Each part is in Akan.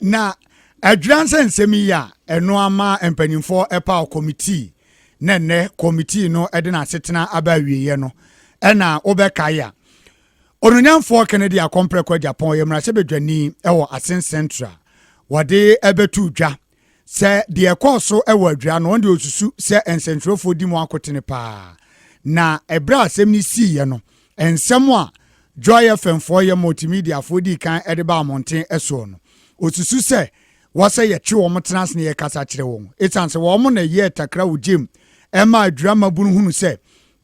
na adwira nsɛ nsɛm yi a ɛno ama mpanimfoɔ ɛpaw kɔmitii na nnɛ kɔmitii no ɛde n'asetena aba awieeɛ no ɛna wobɛkae a ononyamfoɔ kennedy akɔmprɛkɔ agyapɔn yɛ mmarahyɛbadwani ɛwɔ asen central wɔde ɛbɛto dwa Sɛ deɛ ɛkɔɔ so wɔ adwira no, ɔno deɛ ɔsusu sɛ nsɛntwerɛfoɔ di mu akotene paa. Na ɛberɛ a asɛm no siiɛ no, nsɛm a Joy FM foɔ yɛ multimediafoɔ dii kan de baa mmɔnten soɔ no, ɔsusu sɛ wɔsɛ yɛtwe wɔn tena ase na yɛkasa kyerɛ wɔn. Ɛsiane sɛ wɔn na ɛyɛɛ takra wɔ gyam ɛma adwira mmabunu hunu sɛ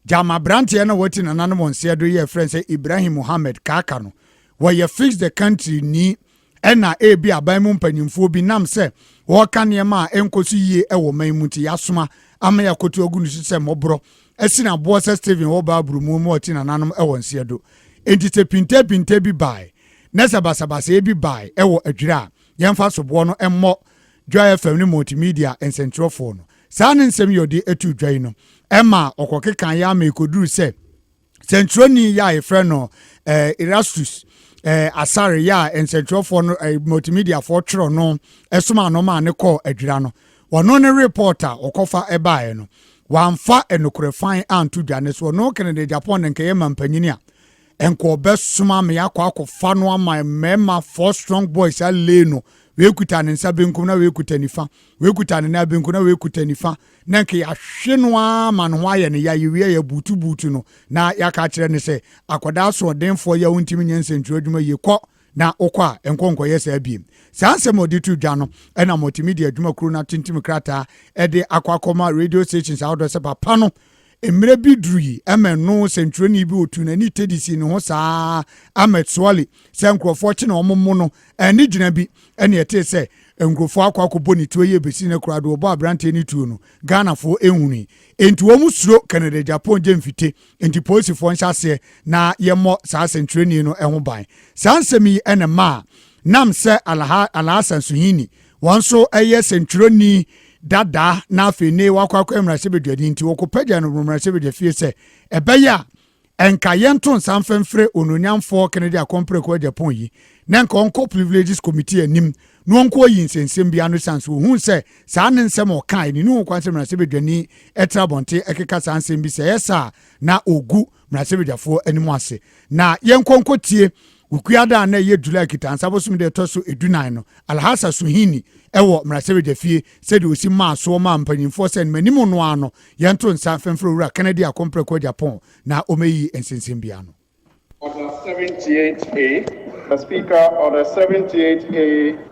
gyama aberanteɛ na wɔati nananom nseɛ do yɛ frɛ sɛ Ibrahim Mohammed Kaka no, wɔyɛ Fix the Country ni Ɛna ebi aban mu mpanyimfoɔ bi nam sɛ wɔreka nneɛma a ɛnkɔ so yie wɔ ɔman mu nti yɛasoma ama yɛakoto agu no so sɛ mmɔborɔ asi no aboɔ sɛ Stephen wɔ Bible mu ma ɔte nananom wɔ nseɛ do. Enti sɛ pintepinte bi bae na sɛ basabasayɛ bi bae wɔ adwira a, yɛmfa soboɔ no mmɔ Joy FM ne Multimedia nsɛntwerɛfoɔ no. Saa ne nsɛm yi a ɔde too dwa yi no, ɛmaa ɔkɔkekaeɛ ara ma ɛkɔduruu sɛ, sɛnkyerɛwni yɛ a yɛfrɛ no eh, erastus eh, asare yɛ a nsɛnkyerɛwfoɔ no eh, multimediafoɔ twerɛ no eh, soma no maa ne kɔɔ adwira no wɔno ne report a wɔkɔfa ɛbaeɛ no wɔamfa nokorɛ fan anto dwa ne so ɔno kennedy japan ne nkɛyɛ ma mpanyini a ɛnkɔ ɔbɛsoma me akɔ akɔfa no ama mmarima four strong boys alee no wekuta ne nsa benkum na wekuta nifa wekuta ne nan benkum na wekuta nifa na anka yɛahwe no ara ma ne ho ayɛ no ya, yɛwie a yɛabuutubuutu no, na yɛaka akyerɛ no sɛ, akwadaa asoɔdenfoɔ yi a wontumi nyɛ nsɛntwerɛ adwuma yie, kɔ na wokɔ a, nkɔ nkɔyɛ saa biem. Saa nsɛm a ɔde to dwa no na Multimedia Adwuma Kuo no atintim krataa de akɔ akɔma radio stations ahodoɔ sɛ papa no Mmerɛ bi duru yi, Emmet no sɛntwerɛni bi ɔtuu n'ani Teddy sii ne ho saa ara, Emmet Swally, sɛ nkurɔfoɔ kye na wɔmmo no, ɛnne gyina bi, ɛnne ɛtee sɛ nkurɔfoɔ akɔ akɔbɔ ne tuo yi ɛbɛsi nnɛ koraa deɛ ɔbɔɔ aberanteɛ no tuo no, Ghanafoɔ nhunui. Enti wɔn suro Canada Japan gye mfite, enti polisifoɔ nhyɛ aseɛ na yɛmmɔ saa sɛntwerɛni no ho ban. Saa nsɛm yi na ɛmaa Nam sɛ Alhassan Suhuyini Wɔn nso yɛ sɛntwerɛni dada na afei ne wakɔ akɔyɛ mmarahyɛbadwani nti wɔkɔpagya no wɔ mmarahyɛbadwa fie sɛ ɛbɛyɛ a ɛnka yɛnto nsa mfɛmfrɛ ononyamfoɔ Kennedy Akɔmpreko Agyapong yi na nka ɔnkɔ Privileges Committee anim na ɔnkɔ yi nsɛnsɛm bi ano san so ohun sɛ saa ne nsɛm a ɔkae ne ne ho kwan sɛ mmarahyɛbadwani ɛtra abɔnten ɛkeka saa nsɛm bi sɛ ɛyɛ saa na ogu Mmarahyɛ Badwafoɔ anim ase na yɛnkɔ nkɔtie Wukua da a na ɛyɛ July Kitansa bosome da ɛtɔ so edunan no Alhassa Suhini ɛwɔ Mmarahyɛ Badwa fie sɛdeɛ ɔsi maa soɔ maa mpanyinfoɔ sɛ manim no ara no yɛnto nsa mfɛmfrɛ Owura Kennedy Akompreko Agyapong na ɔmɛyi nsensɛmbea no. Order 78A, The Speaker, Order 78A.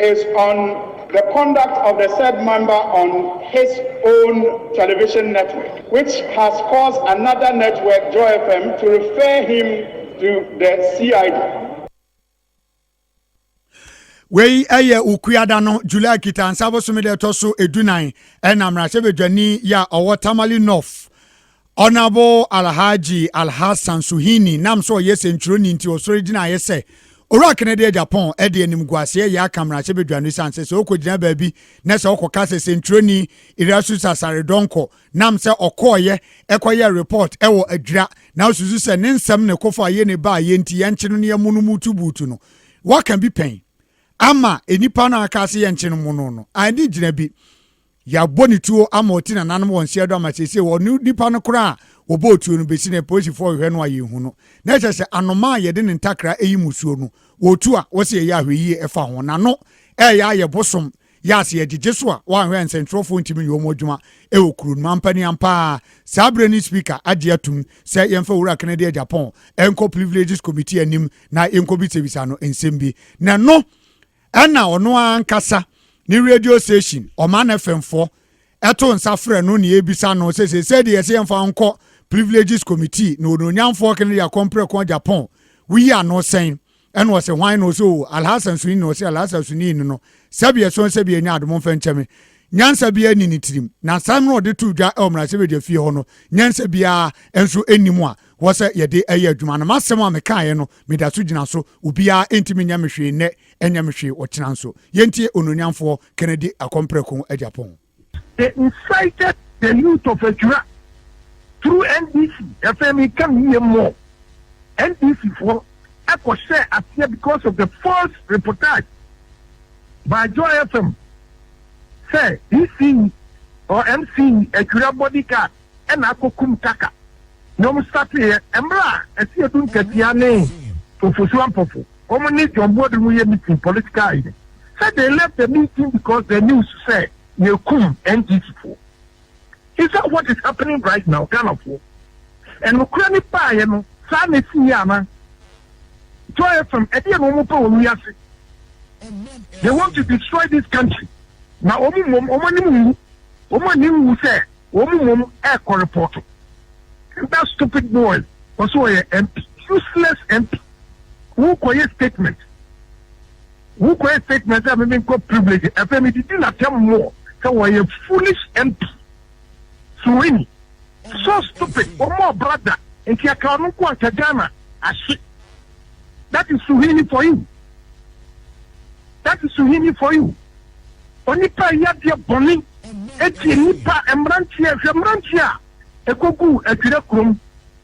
is on the conduct of the said member on his own television network which has caused another network Joy FM to refer him to the CID. Wei yɛ Okuada no July Kitansa bosome da ɛtɔ so edunan ɛna mmarahyɛbadwani yɛ a ɔwɔ Tamale North Ɔnabo Alhaji Alhassan Suhuyini nam sɛ ɔyɛ sɛntwerɛni nti ɔsɔre gyinaeɛ sɛ Owura Kennedy a Japan de animguaseɛ yɛ aka mmarahyɛ badwa no ɛsiane sɛ sɛ ɔkɔgyina baabi na sɛ ɔkɔka sɛ sɛntwerɛni Irasusa Saredonko nam sɛ ɔkɔɔyɛ ɛkɔyɛ report wɔ adwira na ɔsusu sɛ ne nsɛm ne kɔfɔ a yɛ ne baayɛ nti yɛnkye no ne yɛmmo no mutu buutu no waka bi pɛn ama nnipa no a aka sɛ yɛnkye no mmo no no a ɛne gyina bi Yɛabɔ ne tuo ama ɔte nananom wɔn seɛ do ama seesei ɔne nipa no koraa a wɔbɔɔ tuo no bɛsi nnɛ polisifo rehwɛ no a yɛnhu no. Na ɛkyerɛ sɛ anomaa a yɛde ne ntakra yi mmusuo no, wɔtu a wɔse yɛyɛ ahwɛyie ɛfa ho. Nano ɛreyɛ ayɛ bosom yɛ a sɛ yɛgyegye so a woanhwɛ a nsɛntwerɛfoɔ ntumi nyɛ wɔn adwuma wɔ kuro no mu. Ampa ni ampa ara saa berɛ no Speaker agye atum sɛ yɛmfa Owura Kennedy Agyapong nkɔ Privileges Committee anim na yɛnkɔbisabisa no nsɛm bi. Na ɛno Ɛna ɔno ara ankasa ne radio station Ɔman FM foɔ ɛto nsa frɛ no ne ɛbisa no sɛ sɛ sɛ deɛ yɛsɛ yɛmfa nkɔ Privileges Committee na onuonyamfoɔ kene deɛ kɔ mprɛko Japan woyi ano sɛn ɛna ɔsɛ hwan na ɔsɛ o Alhassan Suni na ɔsɛ Alhassan Suni no sɛbi ɛsɔn sɛbi ɛnyɛ adomo mfa nkyɛme nyansa bi ɛni ne tirim na nsɛm no ɔde to dwa ɛwɔ mmarahyɛbadwa fie hɔ no nyansa biara nso ɛnim a hɔ sɛ yɛde yɛ adwuma no. M'asɛm a mekaeɛ no, meda so gyina so. Obiara ntumi nyɛ me hwee nnɛ, ɛnyɛ me hwee ɔkyena nso. Yɛntie Onuonyamfoɔ Kennedy Akompreko Agyapong. They incited the youth of Akyura through NDC, ɛfei meka no yie more, NDC foɔ ɛkɔ hyɛɛ aseɛ because of the false reportage by Joy FM sɛ DCE or MCE Akyura bodyguard. na akokum Taka na wɔn starteeɛ mmerɛ a Asiedu Nkɛtea ne Fofosu Ampofo wɔn ne John Buodu mu yɛ meeting political yi no sɛ they left the meeting because the news sɛ yɛkum NDC foɔ is that what is happening right now Ghana foɔ ɛnokorɛ ne baeɛ no saa na ɛsi yɛ ana Joy FM ɛdeɛ na wɔn pɛ wɔ wiase they want to destroy this country na wɔn mmom wɔn anim wu wɔn anim wu sɛ Wɔn mu mmom ɛkɔ repɔto and that stupid boy ɔse ɔyɛ MP useless MP wo kɔ yɛ statement wo kɔ yɛ statement sɛ meme nkɔ privilege ɛfɛ me didi na tɛm moɔ sɛ wɔyɛ foolish MP suwini so stupid wɔn ɔbra da nti ɛka ɔno nko anka Ghana ahye. That is Suhuyini for you That is Suhuyini for you Onipa a ɛyɛ adeɛ bɔne ɛtie nnipa mmeranteɛ hwɛ mmeranteɛ a ɛkɔguu adwira kurom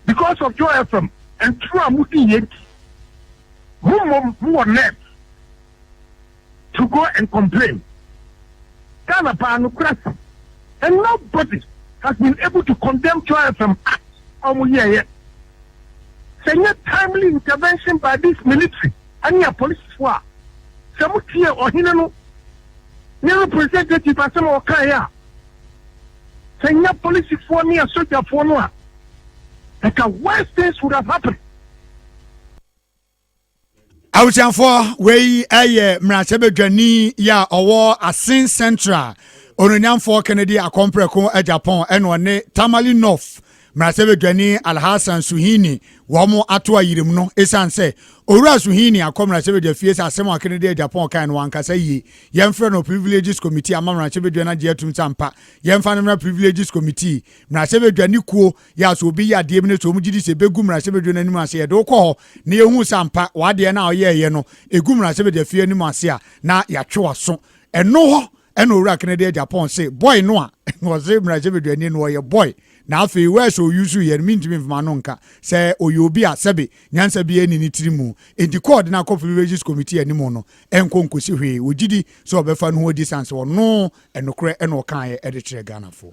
because of Joy FM ntoro a modi yɛ nti mo mmom mowɔ nerve to go and complain Ghana paa nokorɛ si and no body has been able to condemn Joy FM act a wɔn yɛɛyɛ sɛ nyɛ timely intervention by this military ɛne apolisifoɔ a sɛ mo tie ɔhene no ne representative asɛm a ɔkaeɛ a sɛ nyɛ apolisifoɔ ne asogyafoɔ no a ɛka worse things would have happened. abusuafoɔ wei ɛyɛ mmarahyɛbadwani yi a ɔwɔ asen central ononyamfoɔ kennedy akɔmprɛko japan ɛna ɔne tamale north mmarahyɛbadwani alhassan suhini wɔn ato ayirim no ɛsiane sɛ owura suhini akɔ mmarahyɛbadwa fie sɛ asɛm a kennedy japan kan no wankasa yie yɛmfrɛ no privileges committee ama mmarahyɛbadwa no agye atum sɛ ampa yɛmfa no mmra privileges committee mmarahyɛbadwani kuo Yɛ a sɛ obi yɛ adeɛ bi no sɛ wɔn gye di sɛ ɛbɛgu mmarahyɛbadwa no anim ase yɛde wokɔ hɔ na yɛhu sɛ ampa w'adeɛ no a ɔyɛɛyɛ no ɛgu mmarahyɛbadwa fie anim ase a na yɛatwe w'aso ɛno hɔ ɛna owura Kennedy Agyapong se boy no a wɔse mmarahyɛbadwani no ɔyɛ boy na afei wɛs ɔyusu yɛ no mentumi mfama no nka sɛ ɔyɛ obi a sɛbe nyansa bi ɛni ne tiri mu enti kɔɔde no akɔ privileges committee anim no ɛnkɔ nkosi hwee ɔgyidi sɛ ɔbɛfa no ho adi san sɛ ɔno Ɛnokorɛ ɛna ɔkaaɛ de kyerɛ Ghanafoɔ.